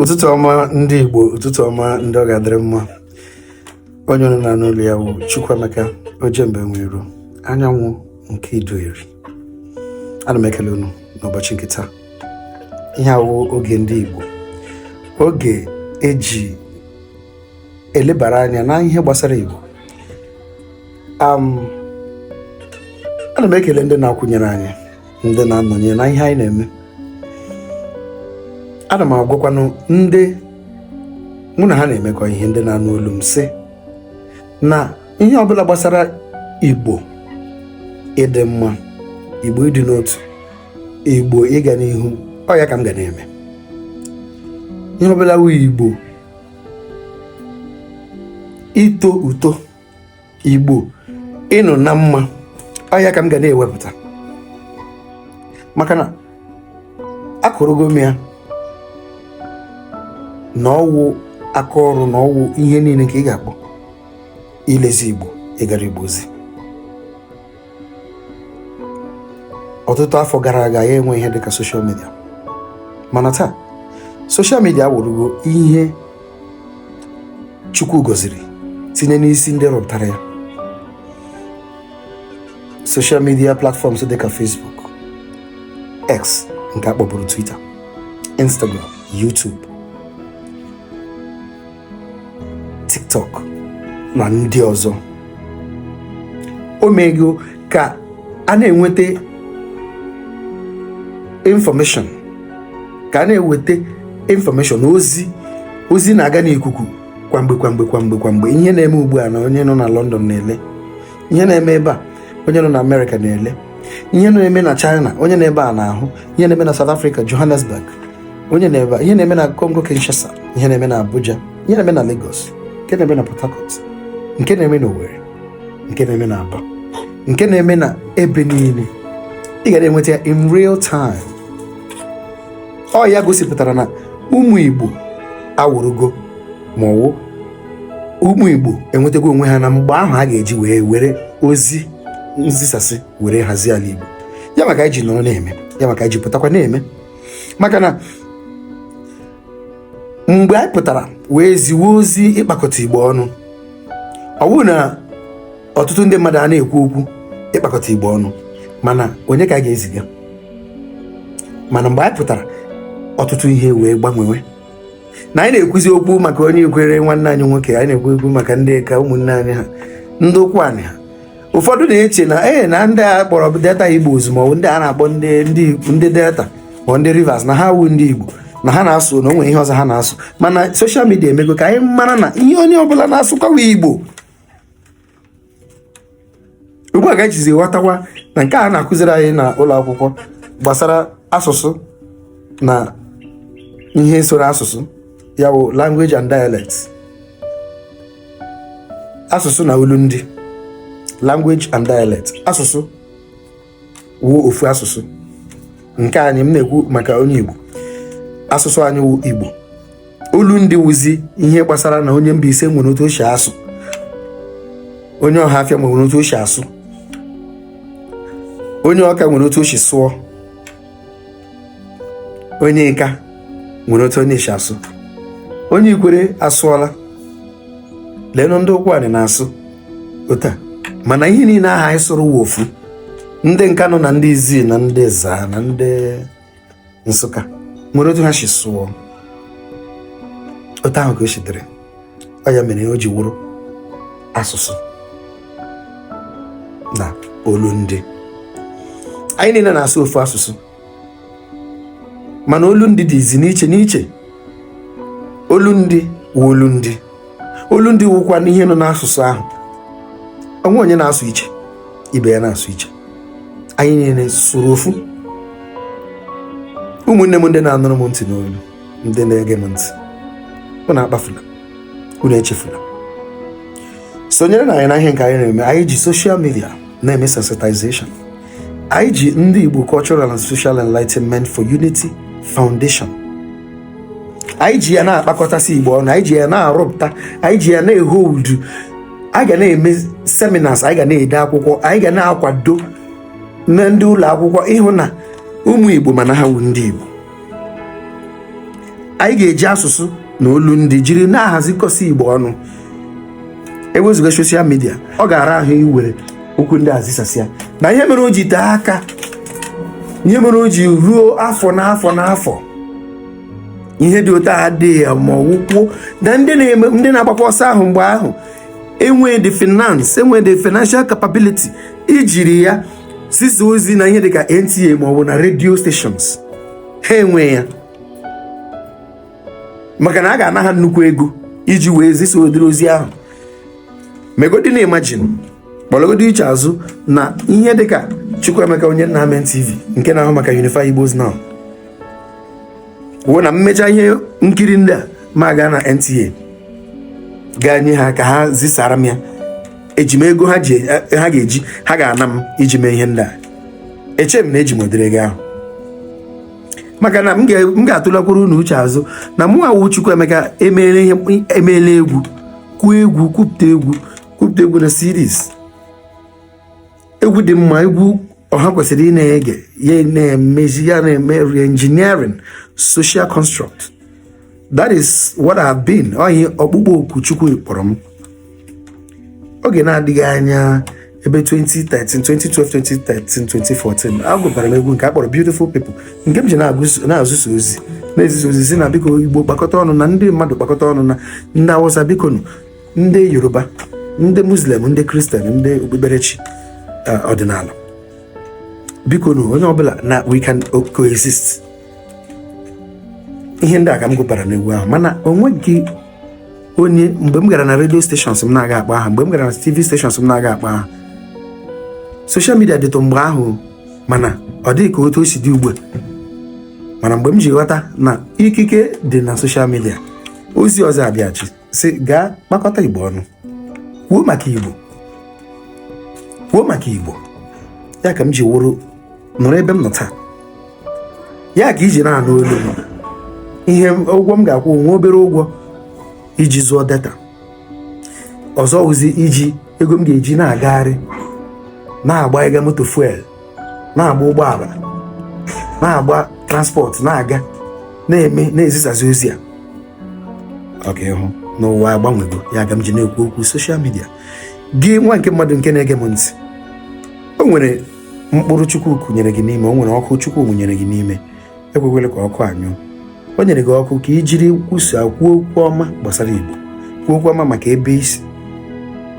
ụtụtụ ọma ndị Igbo ụtụtụ ọma ndị ọ ga-adịrị mma onye unu na-anụ olu ya wụ Chukwuemeka Ọjemba Enweiro anyanwụ nke Iduu Eri ana m ekele unu n'ụbọchị nke taa ihe a wụ oge ndị Igbo oge e ji elebara anya na ihe gbasara Igbo um, ana m ekele ndị na-akwụnyere anyị ndị na-anọnyere na ihe anyị na-eme ana m agwakwanụ ndị mụ na ha na-emekọ ihe ndị na-anụ olu m sị na ihe ọbụla gbasara Igbo ịdị mma Igbo ịdị n'otu Igbo ịga n'ihu ọ ya ka m ga na-eme ihe ọbụla wụ Igbo ito uto igbo ịnọ na mma ọ ya ka m ga na-ewepụta maka na akụrụgo m ya na ọwụ aka ọrụ na ọwụ ihe niile ka ị ga-akpọ ilezi igbo ịgara igbo ozi ọtụtụ afọ gara aga ya enwe ihe dịka soshal midia mana taa soshal midia awụrụgo ihe chukwu gọziri tinye n'isi ndị rụpụtara ya soshal midia platfọms dịka facebook x nke a kpọburu twitter instagram youtube tiktok na ndị ọzọ o mego ka a na-enweta infọmeshọn ka a na-eweta infọmeshọn ozi ozi na-aga n'ikuku kwamgbe kwamgbe kwamgbe kwamgbe ihe na-eme ugbu a na onye nọ na London na-ele ihe na-eme ebe a onye nọ na amerịka na-ele ihe na-eme na china onye nọ ebe a na-ahụ ihe na-eme na south africa johannesburg onye nọ ebe a ihe na-eme na congo kinshasa ihe na-eme na abuja ihe na-eme na lagos nke na-eme na port harcourt nke na-eme na owerri nke na-eme na aba nke na-eme na ebe niile ị ga na-enweta ya in real time ọ ya gosipụtara na ụmụ igbo awụrụgo ma ọwụ ụmụ Igbo enwetago onwe ha na mgbe ahụ a ga-eji wee were ozi nzisasị were hazie ala Igbo ya maka anyị ji nọrọ na-eme ya maka anyị ji pụtakwa na-eme maka na mgbe anyị pụtara wee ziwe ozi ịkpakọta Igbo ọnụ ọ bụrụ na ọtụtụ ndị mmadụ a na-ekwu okwu ịkpakọta Igbo ọnụ mana onye ka a ga-eziga mana mgbe anyị pụtara ọtụtụ ihe wee gbanwewe na anyị na-ekwuzi okwu maka onye ikwere nwanne anyị nwoke anyị na-ekwu okwu maka ndị ka ụmụnne anyị ha ndị ụkwụanị ha ụfọdụ na-eche na ee na ndị a kpọrọ delta igbo ozugbo ndị a na-akpọ ndị ndị ndị delta ma ndị rivers na ha awụghị ndị igbo na ha na-asụ na o nwere ihe ọzọ ha na-asụ mana soshal midia emego ka anyị mara na ihe onye ọbụla na-asụkwa wụ igbo ugbu a ka e jizi ghọtakwa na nke a na-akụziri anyị na ụlọ akwụkwọ gbasara asụsụ na ihe soro asụsụ ya wụ language and dialects asụsụ na olu ndị language and dialect asụsụ wụ ofu asụsụ nke anyị m na-ekwu maka onye Igbo asụsụ anyị wụ Igbo olu ndị wụzi ihe gbasara na onye Mbaise nwere otu o si asụ onye Ọhafịa nwere otu o si asụ onye Ọka nwere otu o si sụọ onye ịka nwere otu onye si asụ onye ikwere asụọla leenụ ndị ụkwụanị na-asụ otu a mana ihe niile aha anyị sụrụ wụ ofu ndị nkanụ na ndị izii na ndị ezaa na ndị nsụka nwere otu ha si sụọ otu ahụ ka o si dịrị ọ ya mere o ji wụrụ asụsụ na olu ndị anyị niile na-asụ ofu asụsụ mana olu ndị dịzi n'iche n'iche olu ndị wụ olu ndị olu ndị wụkwanụ ihe nọ n'asụsụ ahụ o nwee onye na-asụ iche ibe ya na-asụ iche anyị niile sụrụ ofu ụmụnne m ndị na-anụrụ m ntị n'olu ndị na-ege m ntị unu akpafula unu echefula sonyerenụ anyị na ihe nke anyị na-eme anyị ji soshal midia na-eme sensitization anyị ji ndị Igbo Cultural and Social Enlightenment for Unity Foundation anyị ji ya na-akpakọtasị Igbo ọnụ anyị ji ya na-arụpụta anyị ji ya na-ehold anyị ga na-eme seminars anyị ga na-ede akwụkwọ anyị ga na-akwado na ndị ụlọ akwụkwọ ịhụ na ụmụ Igbo ma na ha wụ ndị Igbo anyị ga-eji asụsụ na olu ndị jiri na-ahazikọsị igbo ọnụ ewezụga soshal midia ọ ga-ara ahụ iwere okwu ndị a zisasịa na ihe mere o ji tee aka ihe mere o ji ruo afọ n'afọ n'afọ ihe dị otu a adịghị ya ma ọ wụkwa na ndị na-eme ndị na-agbakwa ọsọ ahụ mgbe ahụ enweghị the finance enweghị the financial capability ijiri ya zisa ozi na ihe dịka NTA ma ọ bụ na radio stations ha enwe ya maka na a ga-ana ha nnukwu ego iji wee zisa ụdịrị ozi ahụ megodi na imagine kpọlagodi uche azụ na ihe dịka Chukwuemeka onye nna amen TV nke na-ahụ maka Unify Igbos Now wụ na m mechaa ihe nkiri ndị a ma gaa na NTA gaa nye ha ka ha zisara m ya eji m ego ha ga-eji ha ga-ana m iji mee ihe ndị a eche m na eji m ụdịrị ego ahụ maka na m ga-atụlakwuru unu uche azụ na mụwa wụ Chukwuemeka emeela egwu kwuo egwu kwupụta egwu kwupụta egwu na series egwu dị mma egwu ọha kwesịrị ị na-ege ya na-emezi ya na-eme reengineering social construct that is what I have been ọ ihe ọkpụkpọ oku chukwu kpọrọ m oge na-adịghị anya ebe 2013 2012 2013 2014 agụbara m egwu nke a kpọrọ beautiful people nke m ji na-ezisa ozi na-ezisa ozi si na biko igbo kpakọta ọnụ na ndị mmadụ kpakọta ọnụ na ndị awụsa biko nụ ndị yoruba ndị muslim ndị christian ndị okpukperechi eh, ọdịnala biko na onye ọbụla na we can coexist ihe ndị a ka m gụpara n'egwu ahụ mana onweghị onye mgbe m gara na radio stations m na-aga akpa aha mgbe m gara na tv stations m na-aga akpa aha social media dịtụ mgbe ahụ mana ọ dịghị ka otu o si dị ugbu a mana mgbe m ji ghọta na ikike dị na social media ozi ọzọ abịachi si gaa kpakọta igbo ọnụ kwuo maka igbo kwuo maka igbo ya ka m ji wụrụ nọrọ ebe m nọ taa ya ka i ji na-anụ olu m ihe ụgwọ m ga-akwụ nwa obere ụgwọ iji zụọ data ọzọ wụzi iji ego m ga-eji na-agagharị na-agbaịga moto fuel na-agba ụgbọala na-agba transport na-aga na-eme na-ezisazi ozi a ọ ka ị hụ na ụwa agbanwego ya ka m ji na-ekwu okwu social media gị nwa nke mmadụ nke na-ege m ntị o nwere mkpụrụ chukwu kụnyere gị n'ime o nwere ọkụ chukwu nwụnyere gị n'ime ekwekwele ka ọkụ a nyụọ o nyere gị ọkụ ka i jiri kwusa kwuo okwu ọma gbasara igbo kwuo okwu ọma maka ebe i si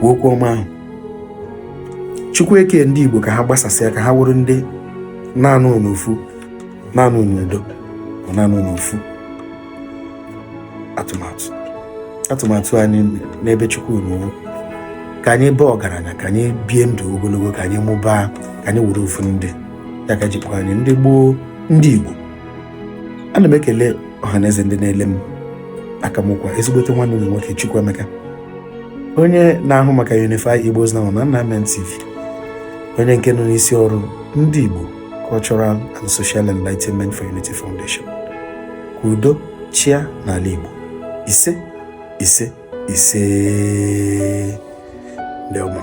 kwuo okwu ọma ahụ chukwu eke ndị igbo ka ha gbasasịa ka ha wụrụ ndị na-anọ n'ofu na-anọ n'udo ma na-anọ n'ofu atụmatụ atụmatụ anyị n'ebe chukwu nọ ka anyị baa ọgaranya ka anyị bie ndụ ogologo ka anyị mụbaa ka anyị wụrụ ofu ndị ya ka ji kpọọ anyị ndị gboo ndị Igbo ana m ekele ọhaneze ndị na-ele m aka m kwa ezigbote nwanne m nwoke Chukwuemeka onye na-ahụ maka Unify Igbos Now na Nnamdi TV onye nke nọ n'isi ọrụ ndị Igbo Cultural and Social Enlightenment for Unity Foundation ka udo chịa n'ala Igbo ise ise ise ndị ọma